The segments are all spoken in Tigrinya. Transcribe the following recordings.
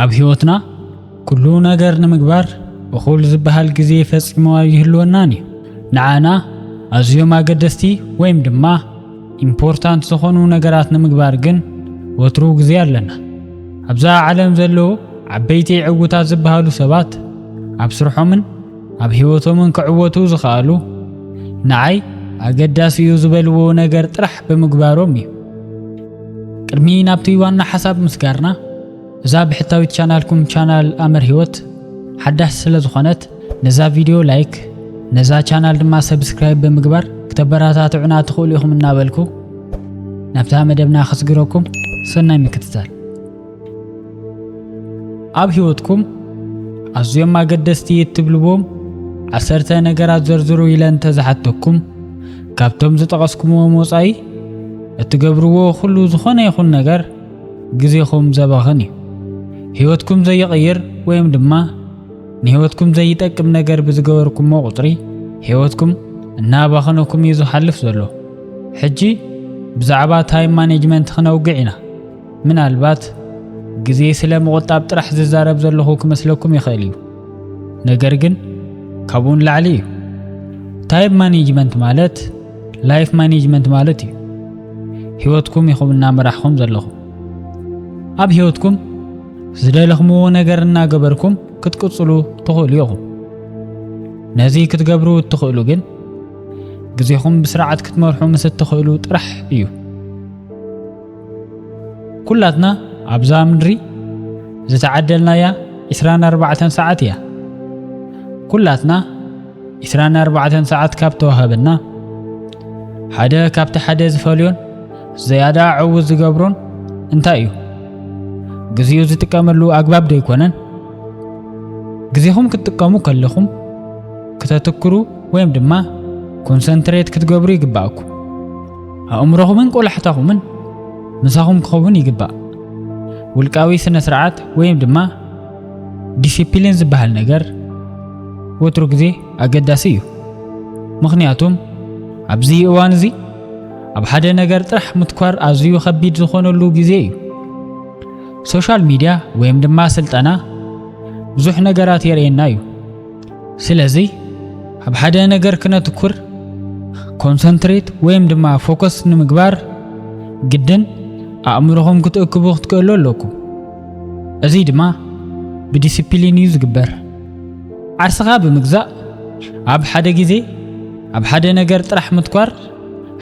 ኣብ ህይወትና ኩሉ ነገር ንምግባር እኹል ዝበሃል ግዜ ፈጺሙ ኣይህልወናን እዩ። ንዓና ኣዝዮም ኣገደስቲ ወይም ድማ ኢምፖርታንት ዝኾኑ ነገራት ንምግባር ግን ወትሩ ግዜ ኣለና። ኣብዛ ዓለም ዘለዉ ዓበይቲ ዕውታት ዝበሃሉ ሰባት ኣብ ስርሖምን ኣብ ሕይወቶምን ክዕወቱ ዝኸኣሉ ንዓይ ኣገዳሲ እዩ ዝበልዎ ነገር ጥራሕ ብምግባሮም እዩ። ቅድሚ ናብቲ ዋና ሓሳብ ምስጋርና እዛ ብሕታዊት ቻናልኩም ቻናል ኣምር ሕይወት ሓዳሽ ስለ ዝኾነት ነዛ ቪድዮ ላይክ ነዛ ቻናል ድማ ሰብስክራይብ ብምግባር ክተበረታትዑና ትኽእሉ ኢኹም እናበልኩ ናብታ መደብና ከስግረኩም ሰናይ ምክትታል ኣብ ህይወትኩም ኣዝዮም ኣገደስቲ እትብልዎም ዓሰርተ ነገራት ዘርዝሩ ኢለ እንተዝሓተኩም ካብቶም ዝጠቐስኩምዎም ወፃኢ እትገብርዎ ኩሉ ዝኾነ ይኹን ነገር ግዜኹም ዘባኽን እዩ። ህይወትኩም ዘይቕይር ወይም ድማ ንህይወትኩም ዘይጠቅም ነገር ብዝገበርኩሞ ቁፅሪ ህይወትኩም እናባኸነኩም እዩ ዝሓልፍ ዘሎ። ሕጂ ብዛዕባ ታይም ማኔጅመንት ክነውግዕ ኢና። ምናልባት ግዜ ስለ ምቑጣብ ጥራሕ ዝዛረብ ዘለኹ ክመስለኩም ይኽእል እዩ፣ ነገር ግን ካብኡ ንላዕሊ እዩ። ታይም ማኔጅመንት ማለት ላይፍ ማኔጅመንት ማለት እዩ። ህይወትኩም ኢኹም እናመራሕኹም ዘለኹም። ኣብ ህይወትኩም ዝደለኽምዎ ነገር እናገበርኩም ክትቅጽሉ ትኽእሉ ኢኹም። ነዚ ክትገብሩ እትኽእሉ ግን ግዜኹም ብስርዓት ክትመርሑ ምስ እትኽእሉ ጥራሕ እዩ። ኩላትና ኣብዛ ምድሪ ዝተዓደልናያ 24 ሰዓት እያ። ኩላትና 24 ሰዓት ካብ ተዋህበና ሓደ ካብቲ ሓደ ዝፈልዮን ዘያዳ ዕውት ዝገብሮን እንታይ እዩ? ግዜኡ ዝጥቀመሉ ኣግባብ ዶ ኣይኮነን? ግዜኹም ክትጥቀሙ ከለኹም ክተትክሩ ወይም ድማ ኮንሰንትሬት ክትገብሩ ይግባእኩም። ኣእምሮኹምን ቆላሕታኹምን ምሳኹም ክኸውን ይግባእ። ውልቃዊ ስነ ስርዓት ወይም ድማ ዲሲፕሊን ዝበሃል ነገር ወትሩ ግዜ ኣገዳሲ እዩ። ምኽንያቱም ኣብዚ እዋን እዚ ኣብ ሓደ ነገር ጥራሕ ምትኳር ኣዝዩ ከቢድ ዝኾነሉ ግዜ እዩ። ሶሻል ሚድያ ወይም ድማ ስልጠና ብዙሕ ነገራት የርእየና እዩ። ስለዚ ኣብ ሓደ ነገር ክነትኩር ኮንሰንትሬት ወይም ድማ ፎከስ ንምግባር ግድን ኣእምሮኹም ክትእክቡ ክትክእሉ ኣለኩ እዚ ድማ ብዲስፕሊን እዩ ዝግበር ዓርስኻ ብምግዛእ ኣብ ሓደ ግዜ ኣብ ሓደ ነገር ጥራሕ ምትኳር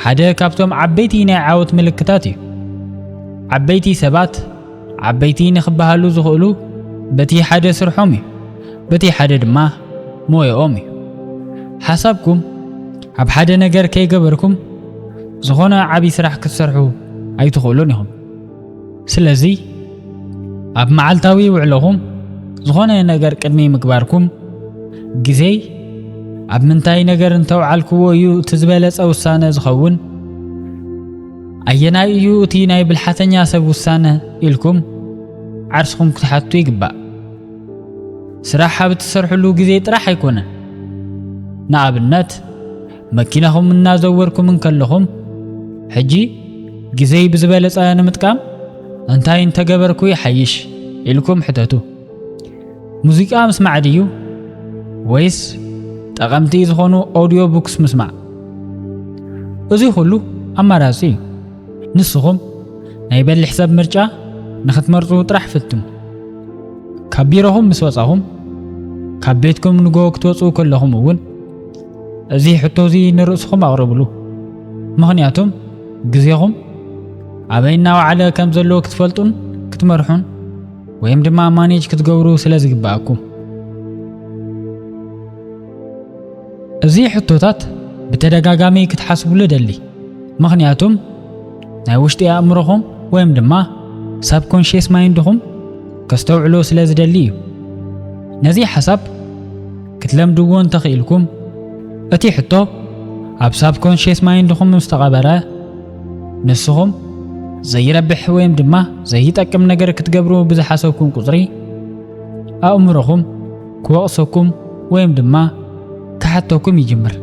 ሓደ ካብቶም ዓበይቲ ናይ ዓወት ምልክታት እዩ ዓበይቲ ሰባት ዓበይቲ ንክበሃሉ ዝኽእሉ በቲ ሓደ ስርሖም እዩ፣ በቲ ሓደ ድማ ሞያኦም እዩ። ሓሳብኩም ኣብ ሓደ ነገር ከይገበርኩም ዝኾነ ዓብዪ ስራሕ ክትሰርሑ ኣይትኽእሉን ኢኹም። ስለዚ ኣብ መዓልታዊ ውዕሎኹም ዝኾነ ነገር ቅድሚ ምግባርኩም ግዜይ ኣብ ምንታይ ነገር እንተውዓልክዎ እዩ እቲ ዝበለጸ ውሳነ ዝኸውን? ኣየናይ እዩ እቲ ናይ ብልሓተኛ ሰብ ውሳነ ኢልኩም ዓርስኹም ክትሓቱ ይግባእ። ስራሕ ኣብ እትሰርሕሉ ግዜ ጥራሕ ኣይኮነን። ንኣብነት መኪናኹም እናዘወርኩም እንከለኹም ሕጂ ግዜይ ብዝበለጸ ንምጥቃም እንታይ እንተገበርኩ ይሓይሽ ኢልኩም ሕተቱ። ሙዚቃ ምስማዕ ድዩ ወይስ ጠቐምቲ ዝኾኑ ኦዲዮ ቡክስ ምስማዕ? እዚ ኩሉ ኣማራጺ እዩ። ንስኹም ናይ በሊሕ ሰብ ምርጫ ንኽትመርጹ ጥራሕ ፍትኑ። ካብ ቢሮኹም ምስ ወጻኹም ካብ ቤትኩም ንጎ ክትወጹ ከለኹም እውን እዚ ሕቶ እዚ ንርእስኹም ኣቕርብሉ። ምኽንያቱም ግዜኹም ኣበይ እናወዓለ ከም ዘሎ ክትፈልጡን ክትመርሑን ወይም ድማ ማኔጅ ክትገብሩ ስለ ዝግብኣኩም እዚ ሕቶታት ብተደጋጋሚ ክትሓስብሉ ደሊ ምኽንያቱም ናይ ውሽጢ ኣእምሮኹም ወይም ድማ ሳብ ኮንሽስ ማይንድኹም ከስተውዕሎ ስለ ዝደሊ እዩ ነዚ ሓሳብ ክትለምድዎ እንተኽኢልኩም እቲ ሕቶ ኣብ ሳብ ኮንሽስ ማይንድኹም ምስ ተቐበረ ንስኹም ዘይረብሕ ወይም ድማ ዘይጠቅም ነገር ክትገብሩ ብዝሓሰብኩም ቁጽሪ ኣእምሮኹም ክወቕሰኩም ወይም ድማ ክሓተኩም ይጅምር።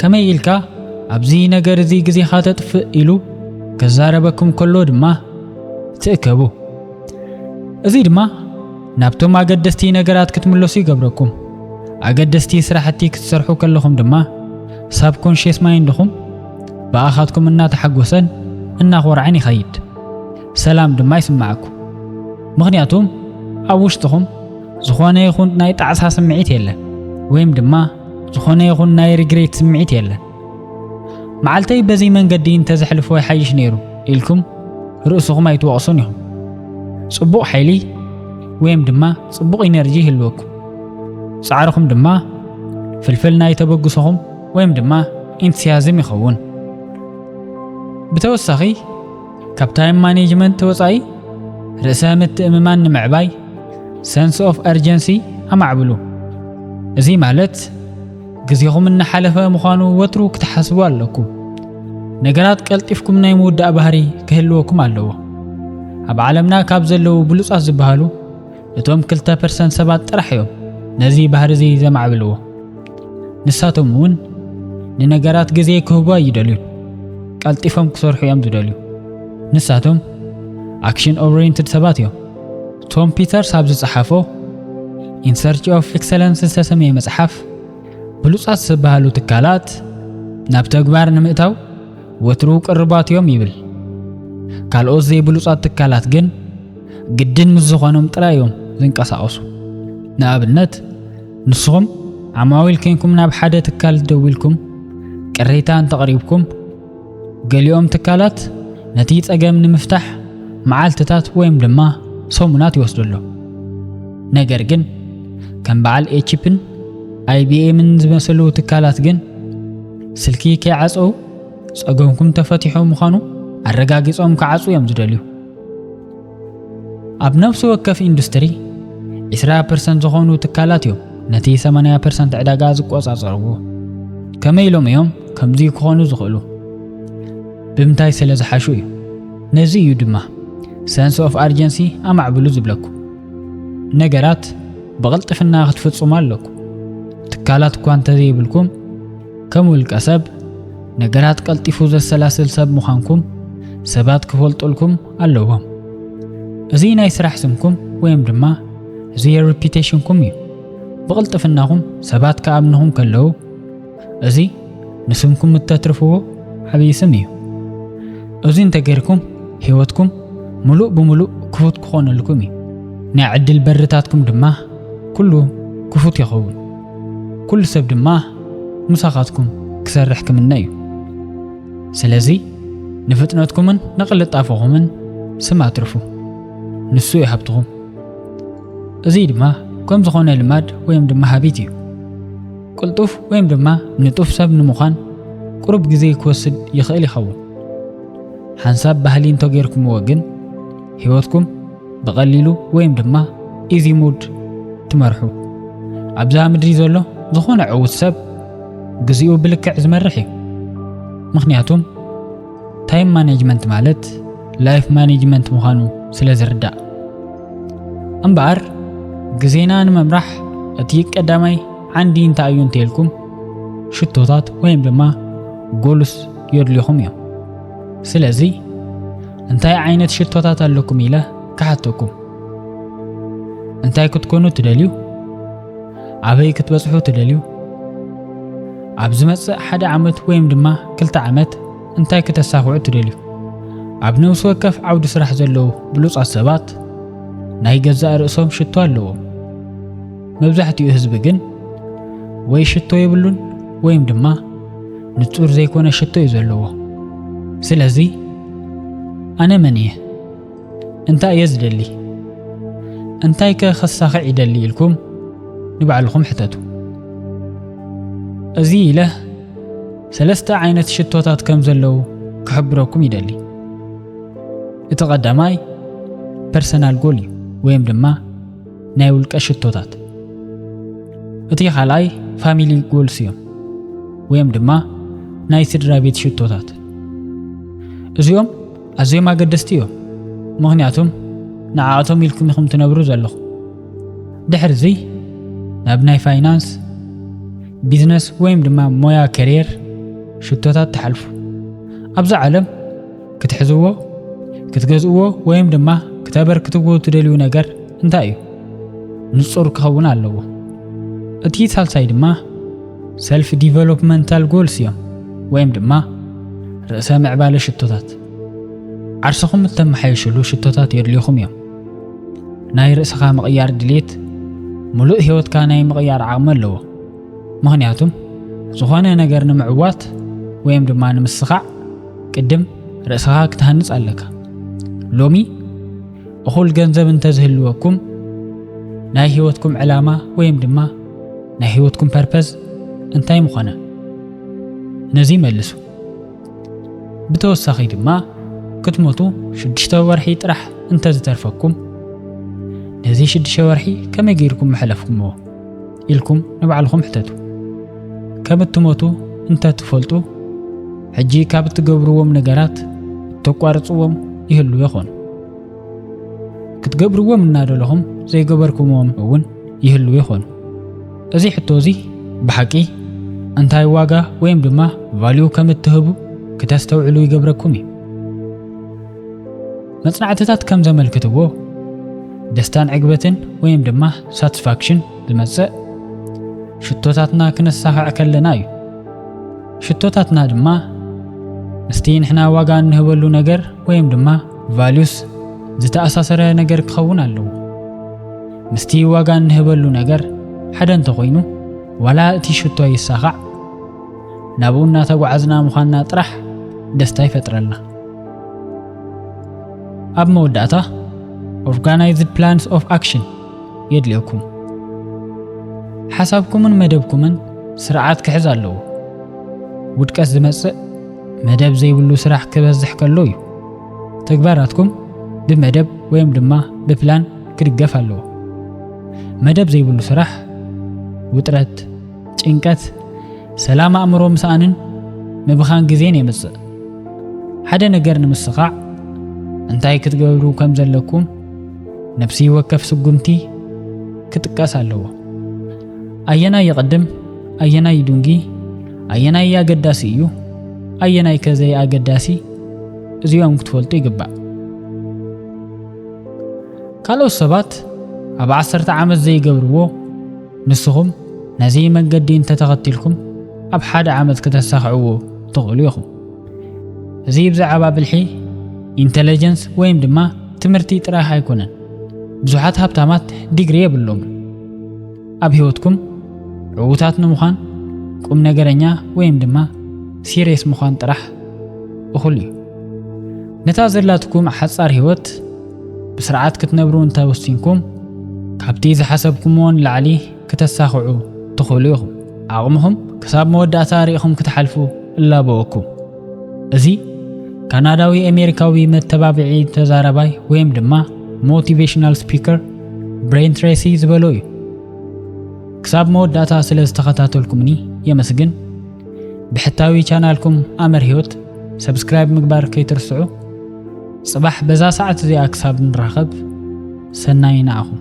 ከመይ ኢልካ ኣብዚ ነገር እዚ ግዜኻ ተጥፍእ ኢሉ ክዛረበኩም ከሎ ድማ ትእከቡ። እዚ ድማ ናብቶም ኣገደስቲ ነገራት ክትምለሱ ይገብረኩም። ኣገደስቲ ስራሕቲ ክትሰርሑ ከለኹም ድማ ሳብኮንሽስ ማይንድኹም ብኣኻትኩም እናተሓጎሰን እናኾርዐን ይኸይድ ሰላም ድማ ይስምዓኩ ምኽንያቱም ኣብ ውሽጥኹም ዝኾነ ይኹን ናይ ጣዕሳ ስምዒት የለን ወይም ድማ ዝኾነ ይኹን ናይ ሪግሬት ስምዒት የለን መዓልተይ በዚ መንገዲ እንተዘሕልፎ ይሓይሽ ነይሩ ኢልኩም ርእስኹም ኣይትወቕሱን ኢኹም ጽቡቕ ሓይሊ ወይም ድማ ጽቡቕ ኢነርጂ ይህልወኩም ጻዕርኹም ድማ ፍልፍል ናይ ተበግሶኹም ወይም ድማ ኢንትስያዝም ይኸውን። ብተወሳኺ ካብ ታይም ማኔጅመንት ወፃኢ ርእሰ ምትእምማን ንምዕባይ ሰንስ ኦፍ ኣርጀንሲ ኣማዕብሉ። እዚ ማለት ግዜኹም እናሓለፈ ምዃኑ ወትሩ ክትሓስቡ ኣለኩም። ነገራት ቀልጢፍኩም ናይ ምውዳእ ባህሪ ክህልወኩም ኣለዎ። ኣብ ዓለምና ካብ ዘለዉ ብሉጻት ዝበሃሉ እቶም ክልተ ፐርሰንት ሰባት ጥራሕ እዮም ነዚ ባህሪ እዚ ዘማዕብልዎ። ንሳቶም እውን ንነገራት ግዜ ክህቡ ኣይደልዩን። ቀልጢፎም ክሰርሑ እዮም ዝደልዩ። ንሳቶም ኣክሽን ኦሪየንትድ ሰባት እዮም። ቶም ፒተርስ ኣብ ዝጸሓፎ ኢንሰርች ኦፍ ኤክሰለንስ ዝተሰምየ መጽሓፍ ብሉጻት ዝበሃሉ ትካላት ናብ ተግባር ንምእታው ወትሩ ቅርባት እዮም ይብል። ካልኦት ዘይብሉጻት ትካላት ግን ግድን ምስ ዝኾኖም ጥራይ እዮም ዝንቀሳቐሱ። ንኣብነት ንስኹም ዓማዊል ኴንኩም ናብ ሓደ ትካል ደዊልኩም ቅሬታ እንተቕሪብኩም፣ ገሊኦም ትካላት ነቲ ጸገም ንምፍታሕ መዓልትታት ወይም ድማ ሰሙናት ይወስደሉ። ነገር ግን ከም በዓል ኤችፕን ኣይቢኤምን ዝመሰሉ ትካላት ግን ስልኪ ከይዓፀው ጸገምኩም ተፈቲሑ ምዃኑ ኣረጋጊጾም ክዓጹ እዮም ዝደልዩ። ኣብ ነፍሲ ወከፍ ኢንዱስትሪ ዒስራ ፐርሰንት ዝኾኑ ትካላት እዮም ነቲ ሰማንያ ፐርሰንት ዕዳጋ ዝቆጻጸርዎ። ከመይ ኢሎም እዮም ከምዚ ክኾኑ ዝኽእሉ? ብምንታይ ስለ ዝሓሹ እዩ። ነዚ እዩ ድማ ሰንስ ኦፍ ኣርጀንሲ ኣማዕብሉ ዝብለኩ። ነገራት ብቕልጥፍና ክትፍጽሙ ኣለኩ። ትካላት እኳ እንተዘይብልኩም ከም ውልቀ ሰብ ነገራት ቀልጢፉ ዘሰላስል ሰብ ምዃንኩም ሰባት ክፈልጡልኩም ኣለዎም። እዚ ናይ ስራሕ ስምኩም ወይም ድማ እዚ የሪፒቴሽንኩም እዩ። ብቕልጥፍናኹም ሰባት ክኣምንኹም ከለዉ እዚ ንስምኩም እተትርፍዎ ዓብዪ ስም እዩ። እዚ እንተገይርኩም ህይወትኩም ምሉእ ብምሉእ ክፉት ክኾነልኩም እዩ። ናይ ዕድል በርታትኩም ድማ ኩሉ ክፉት ይኸውን። ኩሉ ሰብ ድማ ምሳኻትኩም ክሰርሕ ክምነ እዩ። ስለዚ ንፍጥነትኩምን ንቕልጣፈኹምን ስም ኣትርፉ፣ ንሱ እዩ ሃብትኹም። እዚ ድማ ከም ዝኾነ ልማድ ወይም ድማ ሃቢት እዩ። ቅልጡፍ ወይም ድማ ንጡፍ ሰብ ንምዃን ቁሩብ ግዜ ክወስድ ይኽእል ይኸውን። ሓንሳብ ባህሊ እንተጌርኩምዎ ግን ህይወትኩም ብቐሊሉ ወይም ድማ ኢዚ ሙድ ትመርሑ። ኣብዛ ምድሪ ዘሎ ዝኾነ ዕዉት ሰብ ግዚኡ ብልክዕ ዝመርሕ እዩ ምክንያቱም ታይም ማኔጅመንት ማለት ላይፍ ማኔጅመንት ምዃኑ ስለ ዝርዳእ እምበኣር ግዜና ንምምራሕ እቲ ቀዳማይ ዓንዲ እንታይ እዩ እንተልኩም ሽቶታት ወይም ድማ ጎሉስ የድልኹም እዮም ስለዚ እንታይ ዓይነት ሽቶታት ኣለኩም ኢለ ክሓተኩም እንታይ ክትኮኑ ትደልዩ ኣበይ ክትበጽሑ ትደልዩ? ኣብ ዝመጽእ ሓደ ዓመት ወይም ድማ ክልተ ዓመት እንታይ ክተሳኽዑ ትደልዩ? ኣብ ነብሲ ወከፍ ዓውዲ ስራሕ ዘለዉ ብሉጻት ሰባት ናይ ገዛእ ርእሶም ሽቶ ኣለዎም። መብዛሕትኡ ህዝቢ ግን ወይ ሽቶ የብሉን ወይም ድማ ንጹር ዘይኮነ ሽቶ እዩ ዘለዎ። ስለዚ ኣነ መን እየ? እንታይ እየ ዝደሊ? እንታይከ ከሳኽዕ ይደሊ? ኢልኩም ንባዕልኹም ሕተቱ። እዚ ኢለ ሰለስተ ዓይነት ሽቶታት ከም ዘለዉ ክሕብረኩም ይደሊ። እቲ ቀዳማይ ፐርሰናል ጎል እዩ ወይም ድማ ናይ ውልቀ ሽቶታት። እቲ ካልኣይ ፋሚሊ ጎልስ እዮም ወይም ድማ ናይ ስድራ ቤት ሽቶታት እዚኦም ኣዝዮም ኣገደስቲ እዮም፣ ምኽንያቱም ንዓኣቶም ኢልኩም ኢኹም ትነብሩ ዘለኹም። ድሕርዚ ናብ ናይ ፋይናንስ፣ ቢዝነስ ወይም ድማ ሞያ ከሪየር ሽቶታት ትሓልፉ። ኣብዚ ዓለም ክትሕዝዎ፣ ክትገዝእዎ ወይም ድማ ክተበርክትዎ ትደልዩ ነገር እንታይ እዩ? ንጹር ክኸውን ኣለዎ። እቲ ሳልሳይ ድማ ሰልፍ ዲቨሎፕመንታል ጎልስ እዮም ወይም ድማ ርእሰ ምዕባለ ሽቶታት ዓርስኹም እተመሓየሽሉ ሽቶታት የድልዩኹም እዮም ናይ ርእስኻ ምቕያር ድሌት ምሉእ ህይወትካ ናይ ምቕያር ዓቕሚ ኣለዎ ምኽንያቱም ዝኾነ ነገር ንምዕዋት ወይም ድማ ንምስኻዕ ቅድም ርእስኻ ክትሃንፅ ኣለካ ሎሚ እኹል ገንዘብ እንተዝህልወኩም ናይ ህይወትኩም ዕላማ ወይም ድማ ናይ ህይወትኩም ፐርፐዝ እንታይ ምኾነ ነዚ መልሱ ብተወሳኺ ድማ ክትሞቱ ሽዱሽተ ወርሒ ጥራሕ እንተዝተርፈኩም ነዚ ሽዱሽተ ወርሒ ከመይ ገይርኩም መሐለፍኩምዎ ኢልኩም ንባዕልኹም ሕተቱ ከም እትሞቱ እንተትፈልጡ ሕጂ ካብ እትገብርዎም ነገራት እተቋርፅዎም ይህሉ ይኾኑ ክትገብርዎም እናደለኹም ዘይገበርኩምዎም እውን ይህልው ይኾኑ። እዚ ሕቶ እዚ ብሓቂ እንታይ ዋጋ ወይም ድማ ቫልዩ ከም እትህቡ ክተስተውዕሉ ይገብረኩም እዩ። መጽናዕትታት ከም ዘመልክትዎ ደስታን ዕግበትን ወይም ድማ ሳትስፋክሽን ዝመጽእ ሽቶታትና ክነሳኽዕ ከለና እዩ። ሽቶታትና ድማ ምስቲ ንሕና ዋጋ እንህበሉ ነገር ወይም ድማ ቫሉስ ዝተኣሳሰረ ነገር ክኸውን ኣለዎ። ምስቲ ዋጋ እንህበሉ ነገር ሓደ እንተኾይኑ ዋላ እቲ ሽቶ ይሳኻዕ ናብኡ እናተጓዓዝና ምዃንና ጥራሕ ደስታ ይፈጥረልና። ኣብ መወዳእታ ኦርጋናይዝድ ፕላንስ ኦፍ ኣክሽን የድልየኩም። ሓሳብኩምን መደብኩምን ስርዓት ክሕዝ ኣለዎ። ውድቀት ዝመጽእ መደብ ዘይብሉ ስራሕ ክበዝሕ ከሎ እዩ። ተግባራትኩም ብመደብ ወይም ድማ ብፕላን ክድገፍ ኣለዎ። መደብ ዘይብሉ ስራሕ ውጥረት፣ ጭንቀት፣ ሰላም ኣእምሮ ምስኣንን ምብኻን ግዜን የምጽእ። ሓደ ነገር ንምስኻዕ እንታይ ክትገብሩ ከም ዘለኩም ነፍሲ ወከፍ ስጉምቲ ክጥቀስ ኣለዎ። ኣየናይ ይቕድም ኣየናይ ይዱንጊ ኣየናይ ኣገዳሲ እዩ ኣየናይ ከዘይ ኣገዳሲ እዚኦም ክትፈልጡ ይግባእ። ካልኦት ሰባት ኣብ ዓሰርተ ዓመት ዘይገብርዎ ንስኹም ነዚ መንገዲ እንተተኸቲልኩም ኣብ ሓደ ዓመት ክተሳኽዕዎ ትኽእሉ ኢኹም። እዚ ብዛዕባ ብልሒ ኢንተለጀንስ ወይም ድማ ትምህርቲ ጥራሕ ኣይኮነን። ብዙሓት ሃብታማት ዲግሪ የብሎምን። ኣብ ህይወትኩም ዕዉታት ንምዃን ቁም ነገረኛ ወይም ድማ ሲሬስ ምዃን ጥራሕ እኹል እዩ ነታ ዘላትኩም ሓጻር ህይወት ብስርዓት ክትነብሩ እንተወሲንኩም ካብቲ ዝሓሰብኩምዎን ላዕሊ ክተሳኽዑ ትኽእሉ ኢኹም ዓቕምኹም ክሳብ መወዳእታ ርኢኹም ክትሓልፉ እላበወኩም እዚ ካናዳዊ ኣሜሪካዊ መተባብዒ ተዛራባይ ወይም ድማ ሞቲቬሽናል ስፒከር ብሬን ትሬሲ ዝበሎ እዩ። ክሳብ መወዳእታ ስለ ዝተኸታተልኩምኒ የመስግን። ብሕታዊ ቻናልኩም ኣመር ህይወት ሰብስክራይብ ምግባር ከይትርስዑ። ጽባሕ በዛ ሰዓት እዚኣ ክሳብ ንራኸብ ሰናይ ንዓኹም።